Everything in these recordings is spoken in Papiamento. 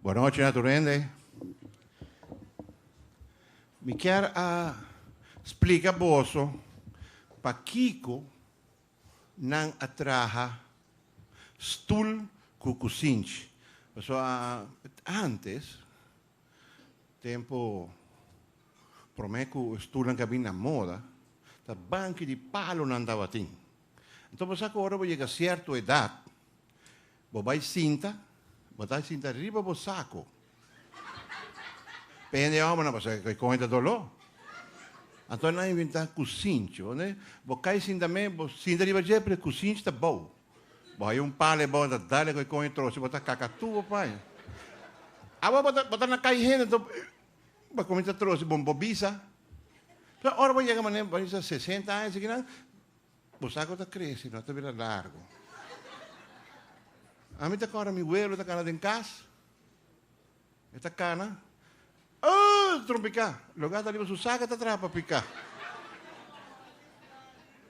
Buen nochi na tur hende. Mi kier a splica boso pakico nan a traha stoel cu cusinchi. Paso antes, tempo prome cu e stoelnan ca bini na moda, ta banki di palo nan tabatin. Anto bo sa ku ora bo yega sierto edat, bo bai sinta, bo ta sinta riba bo sako. P'e hende òmbernan bo sa kon e ta doló. Anto nan inventá kusinchi. Ora bo kai sinta me, bo sinta riba dje, pero e kusinchi ta bou. Bo haya un pala e bou, ta dal e kon e trosi, bo ta kaka tur bo paña. Awe bo ta bo ta na kai hende, anto bo kuminsá trosi, bo bisa. Ora bo yega manera bo bisa sesenta aña, si kinan. Bo sa cu ta crece, no ta bira largo. Ami ta cora mi huelo ta cana den cas. E ta cana. Oh, ta trompica. Logo ata riba su saca ta trapa pica.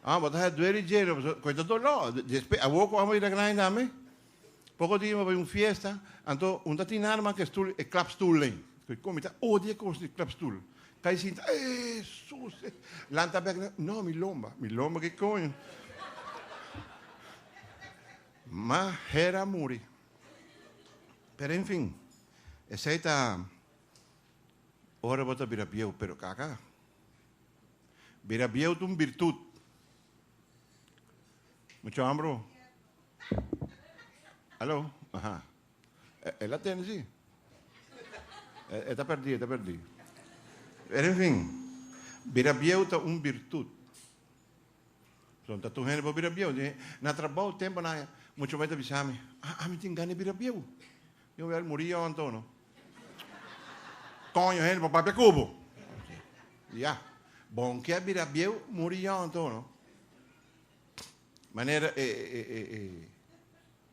Ah, bo ta duele jeno. Coi ta dolor. Después, a woco amo ira grande dame. Poko dia bo bai un fiesta, anto un ta tin arma ke stul, e klapstul dei. Ku komi ta odia e kos di klapstul. Kai sinta, ee, sus, e. Lanta bek na, no, mi lomba. Mi lomba ke koño. Ma her a muri. Pero en fin, esei ta ora bo ta bira bieu. Pero kaka. Bira bieu ta un birtut. Mucho hambro. Hallo? Aha. E, e la tene, si. E, e ta perdí, e ta perdí. Pero en fin, bira bieu ta un virtud. Son ta tu hende bo bira bieu. Di, na trabou tempo na mucho mai ta bisa mi, ah, ami tin gana bira bieu. Yo wel muri yo antono. Coño hende, bo papia cubo. Ya. Bon kia bira bieu, muri yo antono. Manera e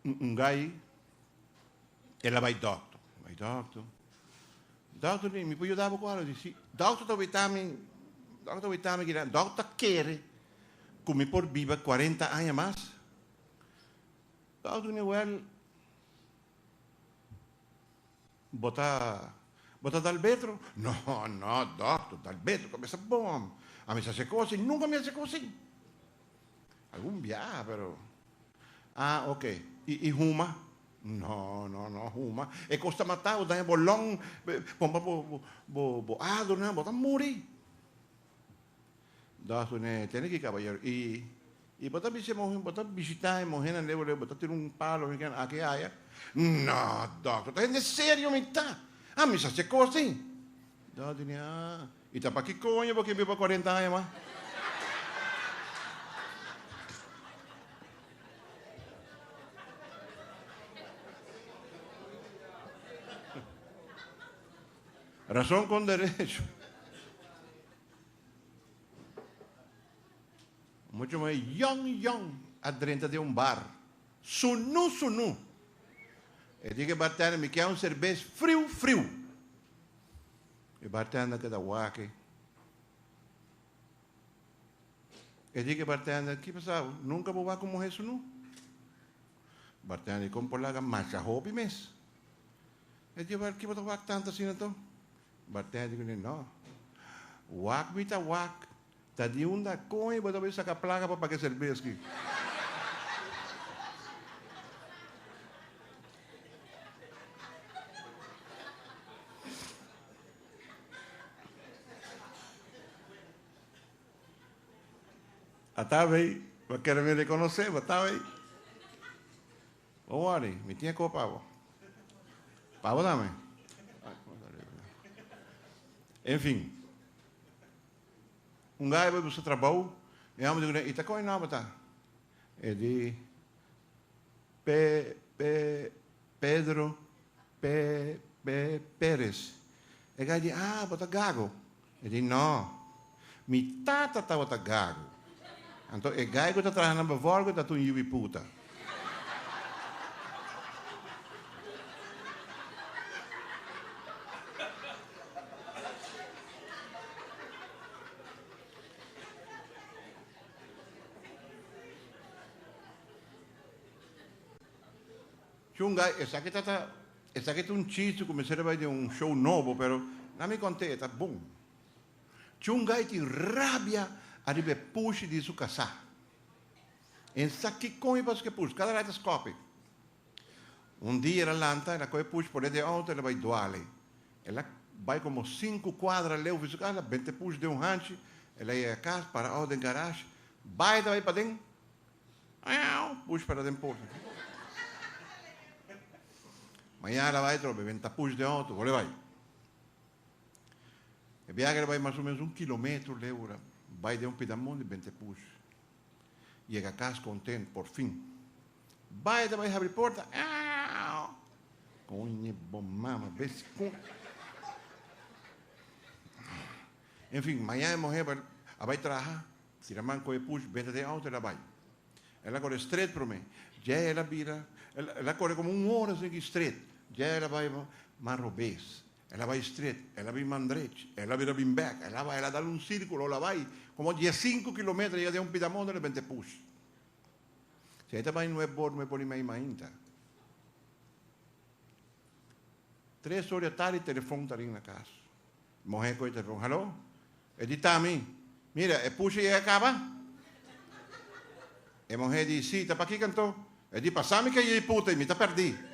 un gai el a bai dokter, bai dokter, dokter mi mi por yuda bo ku algu? Di si. Dokter ta weta mi, dokter ta weta mi kida, dokter ta kere ku mi por biba kuarenta aña mas. Dokter di, wèl. Bo ta bo ta dal betro? No, no, dokter, dal betro ku mi sa bon. A mi sa se kosin, nunka mi a se kosin. Algun biaha, pero a ok. I i huma? No, no, no huma. E kos ta mata bo, daña bo long, pon pa bo bo bo bo adornan, bo ta muri. Dag ku ne tene ki kabayero i i bo ta bisa e muhe, bo ta bishitá e muhenan leu leu bo ta tira un palo mi ken aki haya? No dòkter, ta hende serio mi ta, a mi sa hasi e kos tin. Dag di ne, a i ta pa ki koño bo ke biba kuarenta aña mas? Rason kon derecho. Mucha muhé yong yong a drenta den un bar. Sunú sunú! E di ku e bartender, Mi ke un serbes friu friu! E bartender ke ta wak-e. E di ku e bartender, Ki pasa bo? Nunka bo wak ku un muhé sunú? Bartender di, Kon por laga masha hopi mes? E di, Wel, ki bo ta wak tantu asina to? Bartender ku ne, No. Wak mi ta wak. Ta di unda koño bo ta bay saka plaka pa paga e serbes ki? Ataba ey. Bo kere mi rekonosé bo ataba ey. Don't worry, mi tin e koe pa bo. Pa bo tambe. Enfin, un gaya bai buska trabou, e hòmber di kune, I ta kon e nòmber ta? E di, Pe, Pe, Pedro, Pe, Pe, Perez. E gaya di, Ah, bo ta gago. E di, No, mi tata tabata gago. Anto e gai ku ta traha na Bevorgo tabata un yubi puta. Chunga, esaki tabata. Esaki ta un chiste ku mester a bai den un show nobo, pero na mi kont'é e ta bon. Chungai tin rabia ariba e pushi di su kasá. E no sa kikon i pasobra ku e push kada rai ta skòpi. Un dia el a lanta, el a kohe e push pon'é den e outo, el a bai duale. El a bai komo sinku kuadra leu fi su kas, el a benta e push den un hanchi, el a yega kas, para outo den garash, bai ta bai paden. Push para den por. Mañana bai trobe ben ta push den auto wole bai. E biahe bai mas o menos un kilometro leu ora bai den un pida mundi ben te push. Yega kas kontent por fin. Bai ta bai habri porta koñe bo mama bes kon. En fin mañana e muhe a bai traha. Si da man cu e push beta den auto el a bay. El a core stret prome. Dje el a bira. El a core como un hora seguí stret. Dje el a bay man robes. El a bay stret. El a bin man drech. El a bira bin bek. El a bay el a dal un circulo el a bay como diescinco kilometer a yega den un pida motor el a bente push. Si ey ta bay nuep bor nuep bor y mei mainta. Tres hora di atari telefon ta ring na cas. Moher coge telefon. Halo. E di Tami, Mira, e pushi ei a kaba? E muhé di, Sí, ta pakiko anto? E di, Pasá mi kayé i puta i mi ta pèrdí.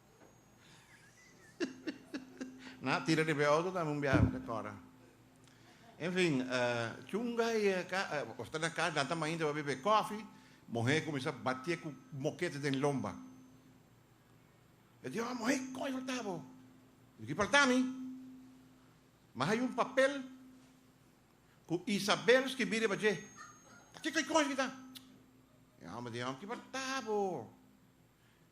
Na tira riba e auto tambe un biaha ta cora. Enfin, chunga y ta na cas nan ta mainta pa bebe cofi, muhe cuminsa batie cu mokete den lomba. E di, oh muhe coi falta bo? Di ki falta mi? Ma hay un papel cu Isabel skibi riba dje. Ta kico y con esaki ta? E homber di, oh ki falta bo?